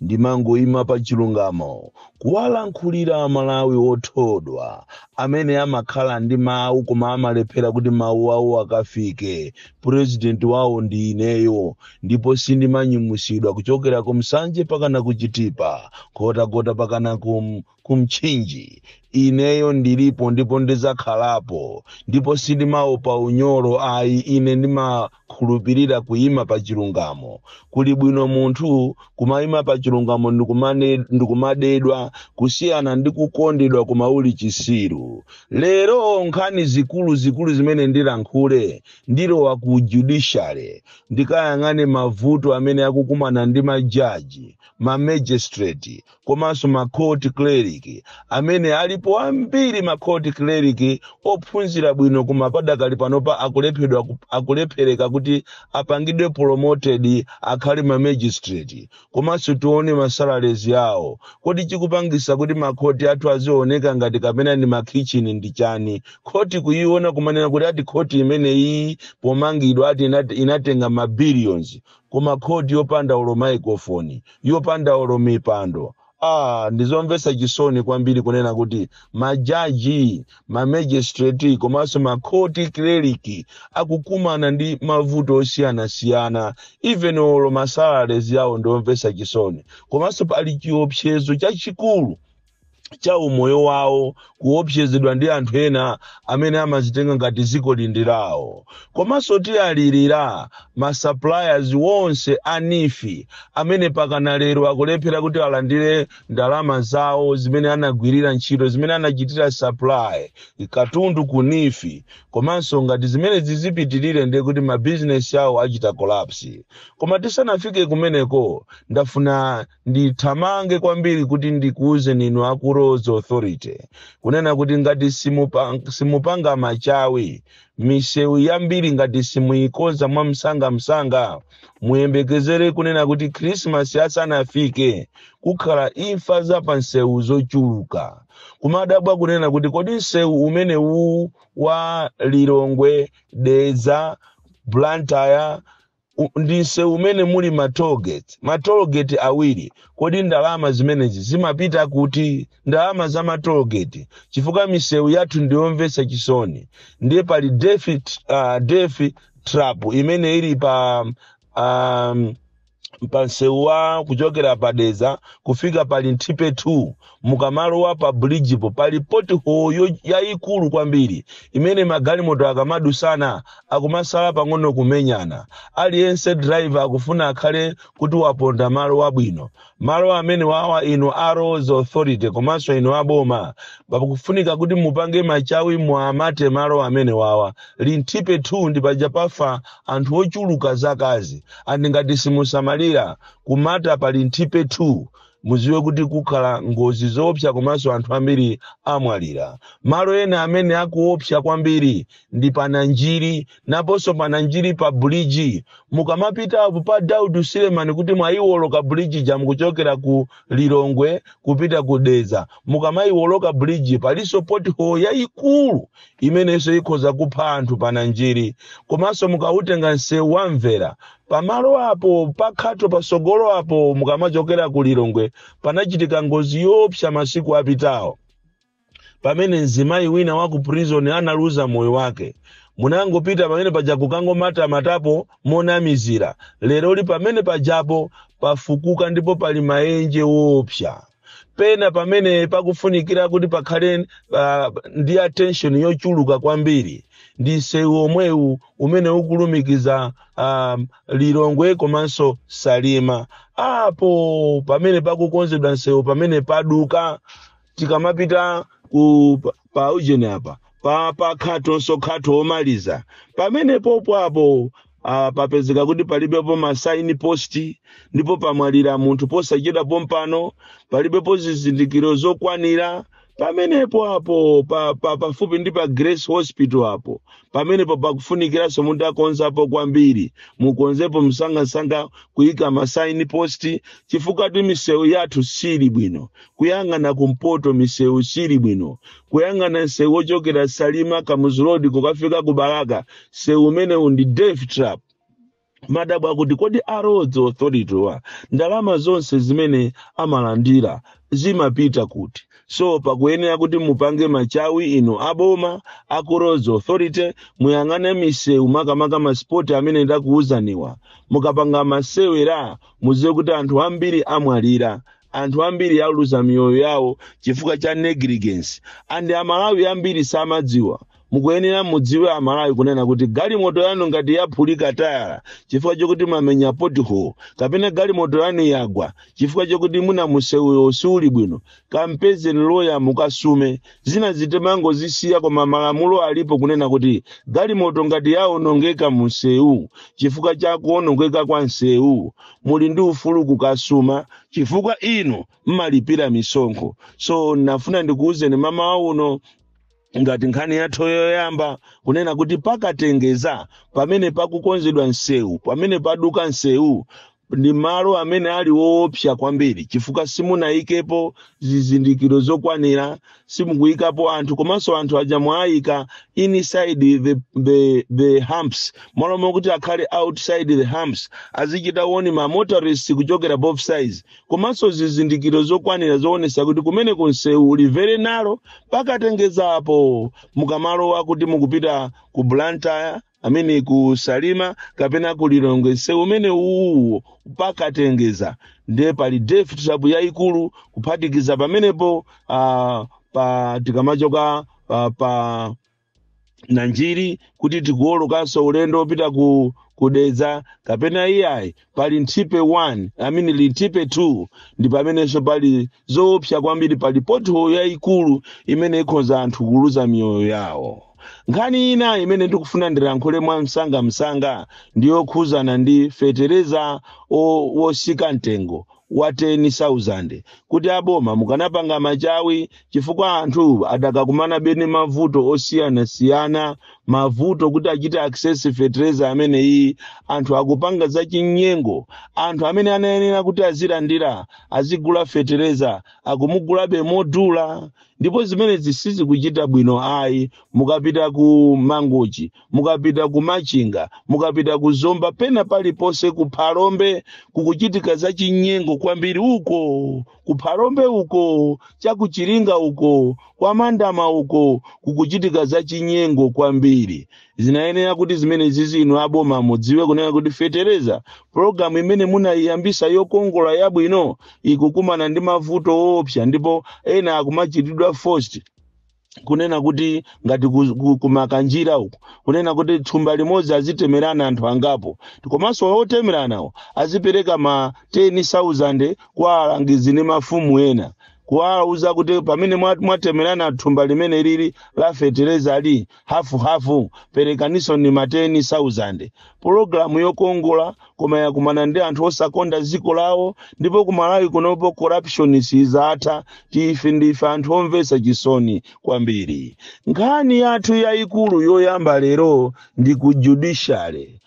Ndimangoima pa chilungamo kuwalankhulira aMalawi otodwa amene amakhala ndi mawu koma amalephera kuti mawu awo akafike. Purezidenti wawo ndi ineyo ndipo sindimanyumwitsidwa kuchokera ku Nsanje pakana ku Chitipa, Nkhotakota pakana ku ku Mchinji. Ineyo ndilipo ndipo ndidzakhalapo, ndipo sindimaopa unyolo ayi, ine ndimakhulupirira kuyima pa chilungamo. Kuli bwino munthu kumayima pa chilungamo ndikumadedwa kusiyana ndi kukondedwa koma uli chisiru. Lero nkhani zikulu zikulu zimene ndilankhule ndilowa ku judiciary ndikayang'ane mavuto amene akukumana ndi majaji, ma magistrate, komanso ma court clerk amene alipo ambiri ma court clerk ophunzira bwino koma padakali panopa akulephedwa ku- akulephereka kuti apangidwe promoted akhale ma magistrate komanso tione ma salaries yawo kodi chikupangisa kuti makhoti athu azioneka ngati kapena ndi makhichini ndi chani khoti kuyiona kumanena kuti ati khoti imene iyi pomangidwa ati inat- inatenga ma billions koma khoti yopanda olo maikofoni, yopanda olo mipando aah ndizomvetsa chisoni kwambiri kunena kuti ma jaji, ma magistrate komanso ma court clerk akukumana ndi mavuto osiyanasiyana even olo ma salaries awo ndiomvetsa chisoni komanso pali chiopsezo chachikulu cha umoyo wawo kuopsezedwa ndi anthu ena amene amazitenga ngati dziko lino ndi lawo komanso tiwalirira masuppliers wonse a NEEF amene pakana lero akulephera kuti alandire ndalama zawo zimene anagwirira ntchito zimene anachitira supply katundu ku NEEF komanso ngati zimene zizipitirire ndiye kuti mabizinesi awo achita collapse koma tisanafike kumeneko ndafuna ndithamange kwambiri kuti ndikuwuzeni inu aku roads authority kunena kuti ngati simupa- simupanga machawi misewu yambiri ngati simuyikonza mwa msangamsanga muyembekezere kunena kuti khrisimasi asanafike kukhala imfa za pa nsewu zochuluka kumadabwa kunena kuti kodi nsewu umene uwu wa lilongwe dedza blantyre u- ndi msewu umene muli ma toll gate ma toll gate awiri kodi ndalama zimenezi zimapita kuti ndalama za ma toll gate chifukwa misewu yathu ndiyomvetsa chisoni ndiye pali death, uh, death trap imene ili pa um, pansewu wa kuchokera pa Dedza kufika pa Linthipe 2 mukamalowa pa bridge po pali pothole yo- yayikulu kwambiri imene magalimoto akamadusana akumasala pang'ono kumenyana aliyense driver akufuna akhale kuti waponda malo wabwino malo amene wawa inu a roads authority komanso inu aboma pakufunika kuti mupange machawi muamate malo amene wawa linthipe 2 ndi paja pafa anthu ochuluka zakazi and ngati simusamalira kumata pa linthipe 2 muziwe kuti kukhala ngozi zoopsa komanso anthu ambiri amwalira malo ena amene akuopsa kwambiri ndi pananjiri naponso pananjiri pa buliji mukamapita apo pa daudi silemani kuti mwayiwoloka buliji ja mukuchokera ku lilongwe kupita ku dedza mukamayiwoloka buliji palinso pothole yayikulu imenenso ikhoza kupha anthu pananjiri komanso mukautenga msewu wamvera pamalo apo pakhato patsogolo apo mukamachokera ku lilongwe panachitika ngozi yoopsa masiku apitawo pamene mzimayi wina wa ku prison analuza moyo wake munangopita pamene paja kukangomatamatapo monamizira leroli pamene pajapo pafukuka ndipo pali maenje woopsa pena pamene pakufunikira kuti pakhale uh, ndi attention yochuluka kwambiri ndi msewu omwewu umene ukulumikiza um, lilongwe komanso salima apo pamene pakukonzedwa msewu pamene paduka tikamapita ku pa- pa ujeni apa pa pa khatonso khatho omaliza pamene popo apo uh, papezeka kuti palibepo masaini posti ndipo pamwalira munthu posachedwa pompano palibepo zizindikiro zokwanira pamenepo apo pa, pa, pafupi ndi pa grace hospital apo pamenepo pakufunikiranso munthu akonzapo kwambiri mukonzepo msangasanga kuyika masaini posti chifukwatu misewu yathu sili bwino kuyang'ana kumpoto misewu sili bwino kuyang'ana msewu wochokera salima kamuzu road kukafika ku balaka msewu umenewu ndi death trap ndimadabwa kuti kodi a roads authority-wa ndalama zonse zimene amalandira zimapita kuti so pakuyenera kuti mupange machawi inu aboma aku roads authority muyang'ane misewu makamaka masipoti amene ndakuwuzaniwa mukapanga masewera muziwe kuti anthu ambiri amwalira anthu ambiri aluza miyoyo yawo chifukwa cha negligence and amalawi ambiri samadziwa mukuyenera mudziwe amalawi kunena kuti galimoto yanu ngati yaphulika tayala chifukwa chokuti mwamenya pothole kapena galimoto yanu yagwa chifukwa chokuti muna musewuyo siuli bwino kampezeni loya mukasume zina timangozisiya koma malamulo alipo kunena kuti galimoto ngati yaonongeka mu nsewu chifukwa cha kuonongeka kwa nsewu muli ndi ufulu kukasuma chifukwa inu mmalipira misonkho so nafuna ndikuwuzeni mmawa uno ngati nkhani yathu yoyamba kunena kuti pa Katengeza pamene pakukonzedwa nsewu pamene paduka nsewu ndi malo amene ali woopsa kwambiri chifukwa simunayikepo zizindikiro zokwanira simukuyikapo anthu komanso anthu aja mwayika inside the, the, the humps mmalo mokuti akhale outside the humps azichita woni ma motorists kuchokera both sides komanso zizindikiro zokwanira zoonesa kuti kumene kunsewu uli very narrow pa Katengezapo mukamalowa kuti mukupita ku blantyre amene ku salima kapena ku lilongwe msewu umene uwuwo pa Katengeza ndiye pali death trap yayikulu kuphatikiza pamenepo uh, pa tikamachoka uh, pa nanjiri kuti tikuwolokanso ulendo wopita ku Dedza kapena iyayi pali nthipe 1 amene li nthipe 2 ndi pamenenso pali zoopsa kwambiri pali pothole yayikulu imene ikhoza anthu kuluza miyoyo yawo nkhani ina imene ndikufuna ndilankhule mwa msangamsanga ndi yokhuzana ndi fetereza o- wosika mtengo wa 10,000 kuti aboma mukanapanga machawi chifukwa anthu adakakumana be ndi mavuto osiyanasiyana mavuto kuti achite access fetereza ameneyi anthu akupanga za chinyengo anthu amene anayenera kuti azilandira azigula fetereza akumugulabe modula ndipo zimenezi sizikuchita bwino ayi mukapita ku mangochi mukapita ku machinga mukapita ku zomba pena paliponse ku phalombe kukuchitika zachinyengo kwambiri uko ku phalombe uko cha ku Chiringa uko kwa mandama uko kukuchitika zachinyengo kwambiri zinayenera kuti zimenezizi inu aboma mudziwe kunena kuti fetereza pologalamu imene munayiyambisa yokongola yabwino ikukumana ndi mavuto oopsa ndipo ena akumachitidwa forced kunena kuti ngati ku- ku- ku Makanjira uku kunena kuti thumba limodzi azitemerana anthu angapo komanso otemeranawo azipereka ma 10000 kwa alangizi ndi mafumu ena kuwauza kuti pamene mwa- mwatemerana thumba limeneli la fetereza ali hafu hafu perekaninso ni ma 10000 pologalamu yokongola koma yakumana ndi anthu osakonda dziko lawo ndipo ku malawi kunopo corruption sizatha ife ndife anthu omvetsa chisoni kwambiri nkhani yathu yayikulu yoyamba lero ndi ku judiciary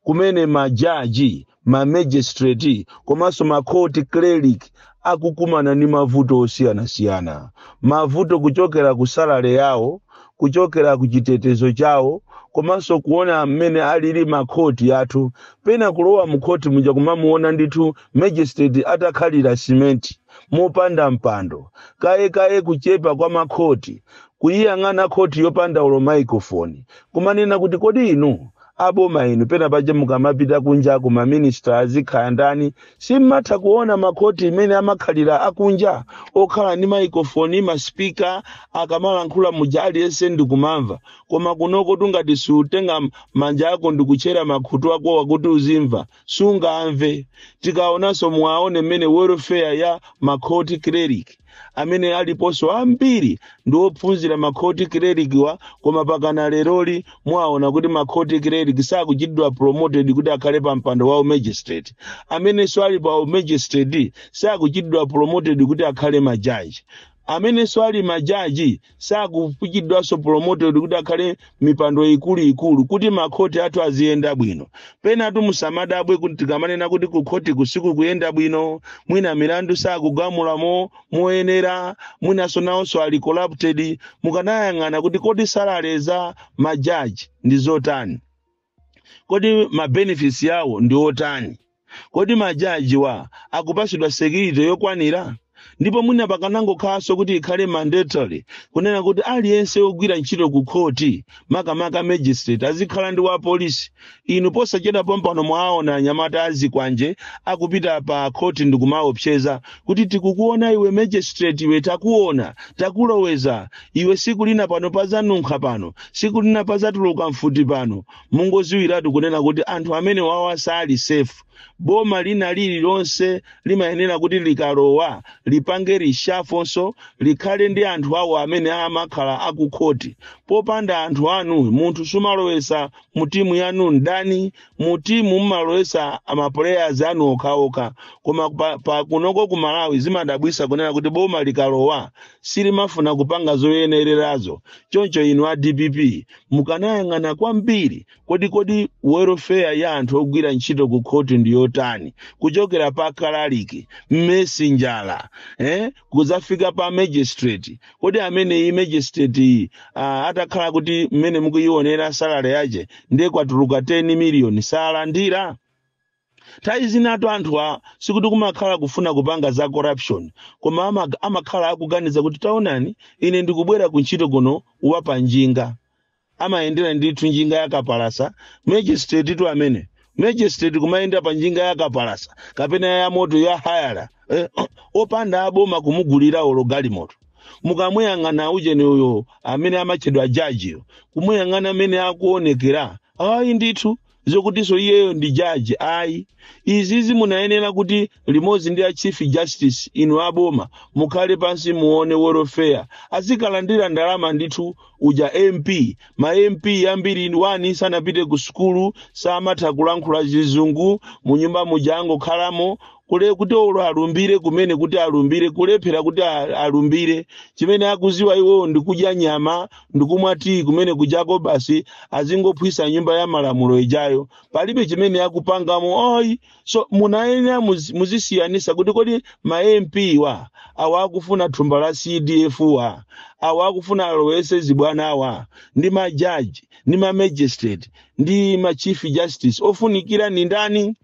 kumene majaji mamagistrate komanso makhoti clerk akukumana ndi mavuto osiyanasiyana mavuto kuchokera ku salale yawo kuchokera ku chitetezo chawo komanso kuona mmene alili makhoti yathu pena kulowa mukhoti muja kumamuona ndithu magistrate atakhalira simenti mopanda mpando kaye kaye kuchepa kwa makhoti kuyiyang'ana khoti yopanda ulo microphone kumanena kuti kodi inu aboma inu pena paja mukamapita kunjako maminista azikhala ndani simmatha kuona makhoti imene amakhalira akunja okhala ndi maikofoni maspika akamalankhula muja aliyense ndikumamva koma kunoko tungati uzitenga manja ako ndikutchera makhutu akowa kuti uzimva sungamve tikaonanso muwaone mmene welfare ya makhoti clerk amene aliponso ambiri ndi ophunzira makhoti clerk-wa koma pakana leroli muwaona kuti makhoti clerk sakuchitidwa promoted kuti akhale pa mpando wa umagistrate amenenso ali pa umagistrate sakuchitidwa promoted kuti akhale majaji amenenso ali majaji sakuchitidwanso promoted kuti akhale mmipando ikuluikulu kuti makhoti athu aziyenda bwino penatu musamadabwe kuti tikamanena kuti kukhoti sikukuyenda bwino mwina milandu sakugamulamo moyenera mwinanso nawonso ali corrupted mukanayang'ana kuti kodi salary za majaji ndi zotani kodi ma benefits yawo ndi otani kodi majajiwa akupasidwa security yokwanira ndipo mwina pakanangokhalanso kuti ikhale mandatory kunena kuti aliyense wogwira ntchito ku khoti makamaka magistrate azikhala ndi wa polisi inu posachedwa pompano mwawaona anyamata azikwanje akupita pa khoti ndikumaopseza kuti tikukuona iwe magistrate iwe takuona takuloweza iwe siku lina pano pazanunkha pano siku lina pazatuluka mfuti pano mungoziwiratu kunena kuti anthu amene wawa sali sefu boma lina lililonse limayenera kuti likalowa lipange rishafonso likhale ndi anthu awo amene amakhala akukhoti popanda anthu anu munthu sumalowesa mu timu yanu ndani mu timu mumalowesa maplayers anu okhaokha koma pa kunoko ku malawi zimadabwisa kunena kuti boma likalowa silimafuna kupanga zoyenererazo choncho inu a dpp mukanayang'ana kwambiri kodi kodi welfare ya anthu ogwira ntchito ku khoti ndi yotani kuchokera pa kalaliki mesenjala eh? kuzafika pa magistrate kodi ameneyi magistrate-yi ah, atakhala kuti mmene mukuyionera salary yache ndiye kwatuluka 10 miliyoni salandira nthawi zinatu anthuwa sikuti kumakhala kufuna kupanga za corruption koma ama- amakhala akuganiza kuti taonani ine ndikubwera ku ntchito kuno wa panjinga amayendera ndithu njinga yakapalasa magistrate tu amene magistrate kumayenda pa njinga yakapalasa kapena ya moto ya hayala eh, opanda aboma kumugulira olo galimoto mukamuyang'ana ujeni uyo amene amatchedwa jajiyo kumuyang'ana mmene akuonekera ayi ndithu zokutinso iyeyo ndi jaji ayi izizi munayenera kuti limodzi ndi a chief justice inu aboma mukhale pansi muone welfare azikalandira ndalama ndithu uja mp ma mp ambiri wani sanapite ku sukulu samatha kulankhula chizungu munyumba muja angokhalamo kule kuti olo alumbire kumene kuti alumbire kulephera kuti a- alumbire chimene akuziwa iwowo ndi kudya nyama ndikumwa tiyi kumene kujako basi azingophwisa nyumba ya malamulo ijayo palibe chimene akupangamo oyi so munayenera muzi- muzisiyanisa kuti kodi ma mp wa awa akufuna thumba la cdf wa awa akufuna alowese zibwana awa ndi majaji ndi mamagistrate ndi machief justice ofunikira ni ndani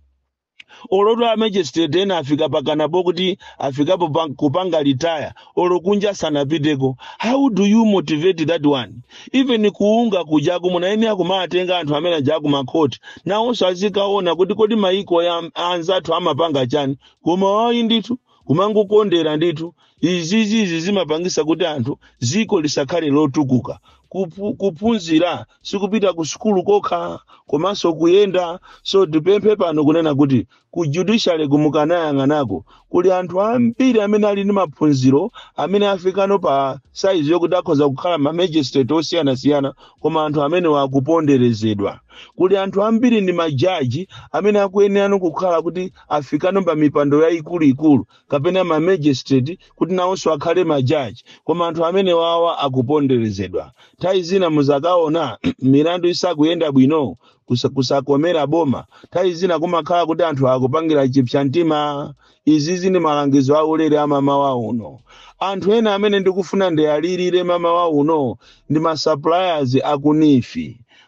olotu a magistrate ena afika mpakana pokuti afikapo pa- kupanga retire olo kunja sanapiteko how do you motivate that one even ku unga kujaku munayenera kumatenga anthu amene aja kumakhoti nawonso azikaona kuti kodi maiko ya anzathu amapanga chani koma ayi ndithu kumangokondera ndithu izizizi zimapangisa kuti anthu ziko lisakhale lotukuka Kupu, kuphunzira sikupita ku sukulu kokha komanso kuyenda so tipemphe pano kunena kuti ku judiciary ku mukanayang'anako kuli anthu ambiri amene ali ndi maphunziro amene afikano pa saizi yokuti akhoza kukhala ma magistrate osiyanasiyana koma anthu amenewa akuponderezedwa kuli anthu ambiri ndi majaji amene akuyenerano kukhala kuti afikano pa mipando yayikuluikulu kapena ma magistrate kuti nawonso akhale majaji koma anthu amenewawa akuponderezedwa nthawi zina muzakaona milandu isakuyenda bwino kusa- kusakomera boma nthawi zina kumakhala kuti anthu akupangira chipsa mtima izizi ndi malangizo aulere a mamawa uno anthu ena amene ndikufuna ndiwalirire mamawa uno ndi masuppliers aku neef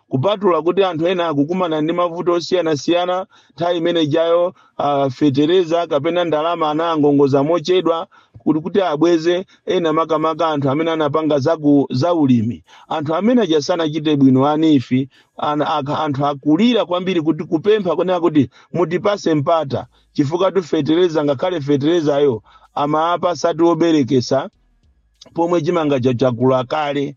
kupatula kuti anthu ena akukumana ndi mavuto osiyanasiyana nthawi imene ijayo ah, fetereza kapena ndalama anangongoza mochedwa kuti kuti abweze ena makamaka anthu amene anapanga zaku za ulimi anthu amene aja sanachite bwino a neef an, ak, anthu akulira kwambiri kuti kupempha kunena kuti mutipase mpata chifukwatu fetereza ngakhale feterezayo amaapasa ati oberekesa pomwe chimanga chakula kale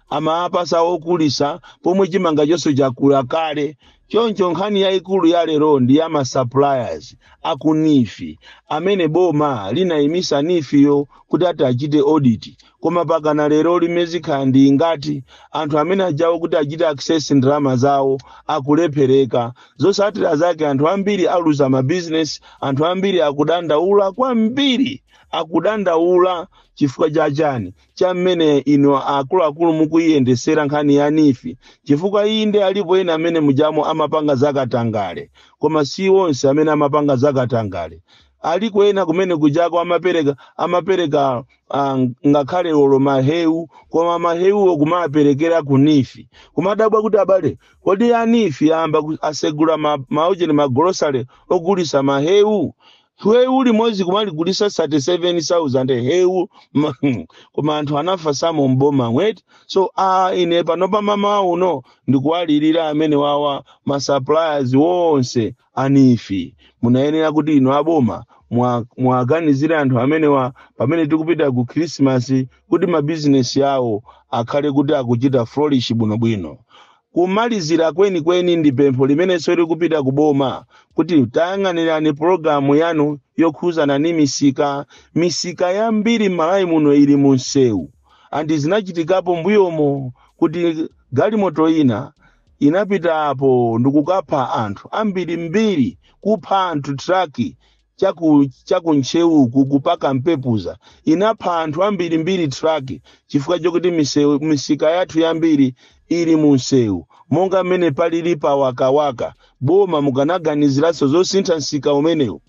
amapatsa ogulisa pomwe chimanga chonse chakula kale choncho nkhani yayikulu ya lero ndi ya masuppliers aku NEEF amene boma linayimisa NEEF-yo kuti ati achite audit koma pakana lero likumakhala ngati anthu amene ajawo kuti achite access ndalama zawo akulephereka zosatira zake anthu ambiri aluza mabizinesi anthu ambiri akudandaula kwambiri akudandaula chifukwa cha chani cha mmene inu akuluakulu mukuyiyendesera nkhani ya NEEF chifukwa inde alipo ena amene mujamo amapanga zakatangale koma si onse amene amapanga zakatangale aliko ena kumene kujako amapereka amapereka ah, ngakhale olo mahewu koma mahewuwo kumaperekera ku NEEF kumadabwa kuti abale kodi a NEEF ayamba ku- asegula ma- maujeni magolosale ogulisa mahewu hewu limodzi kumaligulisa 37000 hewu ma- koma anthu anavasamo mbomamo eti so a ine panopa mmawa uno ndikuwalirira amenewawa ma suppliers wonse a NEEF munayenera kuti inu aboma mwa- mwaganizire anthu amenewa pamene tikupita ku khrisimasi kuti mabizinesi awo akhale kuti akuchita flourish bwinobwino Kumalizira kwenikweni ndi pempho limenenso lili kupita ku boma kuti tayang'anirani pulogalamu yanu yokhuzana ndi misika. Misika yambiri m'Malawi muno ili mu msewu and zinachitikapo mbuyomo kuti galimoto ina inapita apo ndikukapha anthu ambirimbiri, kupha anthu truck chaku chaku Ntcheuku ku pa Kampepuza inapha anthu ambirimbiri truck chifukwa chokuti misewu- misika yathu yambiri ili mu msewu monga mmene palili pa wakawaka boma mukanaganiziranso zosintha msika umenewu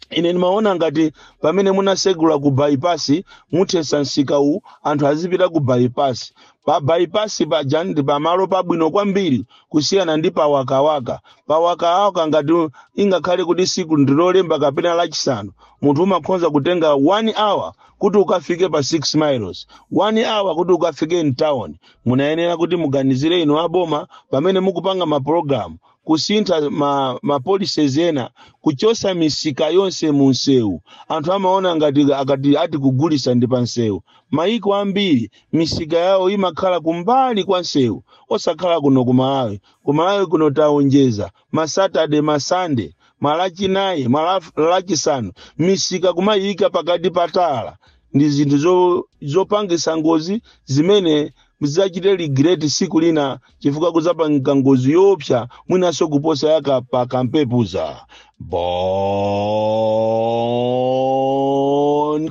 ine ndimaona ngati pamene munasegula ku bypass muthese msika uwu anthu azipita ku bypass pa bypass paja ndi pamalo pabwino kwambiri kusiyana ndi pawakawaka pawakawaka ngati ingakhale kuti siku ndi lolemba kapena lachisanu munthu umakhonza kutenga 1 hour kuti ukafike pa 6 miles 1 hour kuti ukafike mtown munayenera kuti muganizire inu aboma pamene mukupanga mapulogalamu kusintha ma, ma policies ena kuchosa misika yonse mu msewu anthu amaona ngati akati ati kugulisa ndi pa msewu mayiko ambiri misika yawo imakhala kumbali kwa nsewu osakhala kuno ku malawi ku malawi kuno taonjeza ma saturday ma sunday malachinayi malachisanu misika kumayika pakati pa tala ndi zinthu zo- zopangisa ngozi zimene muzidzachite regret siku lina chifukwa kudzapanga ngozi yoopsa mwinanso kuposa ya kwa kampepuza bon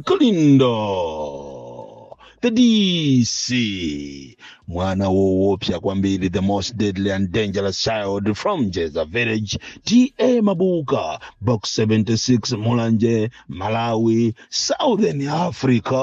kalindo the dc mwana woopsa kwambiri the most deadly and dangerous child from jeza village ta mabuka box 76 mulanje malawi southern africa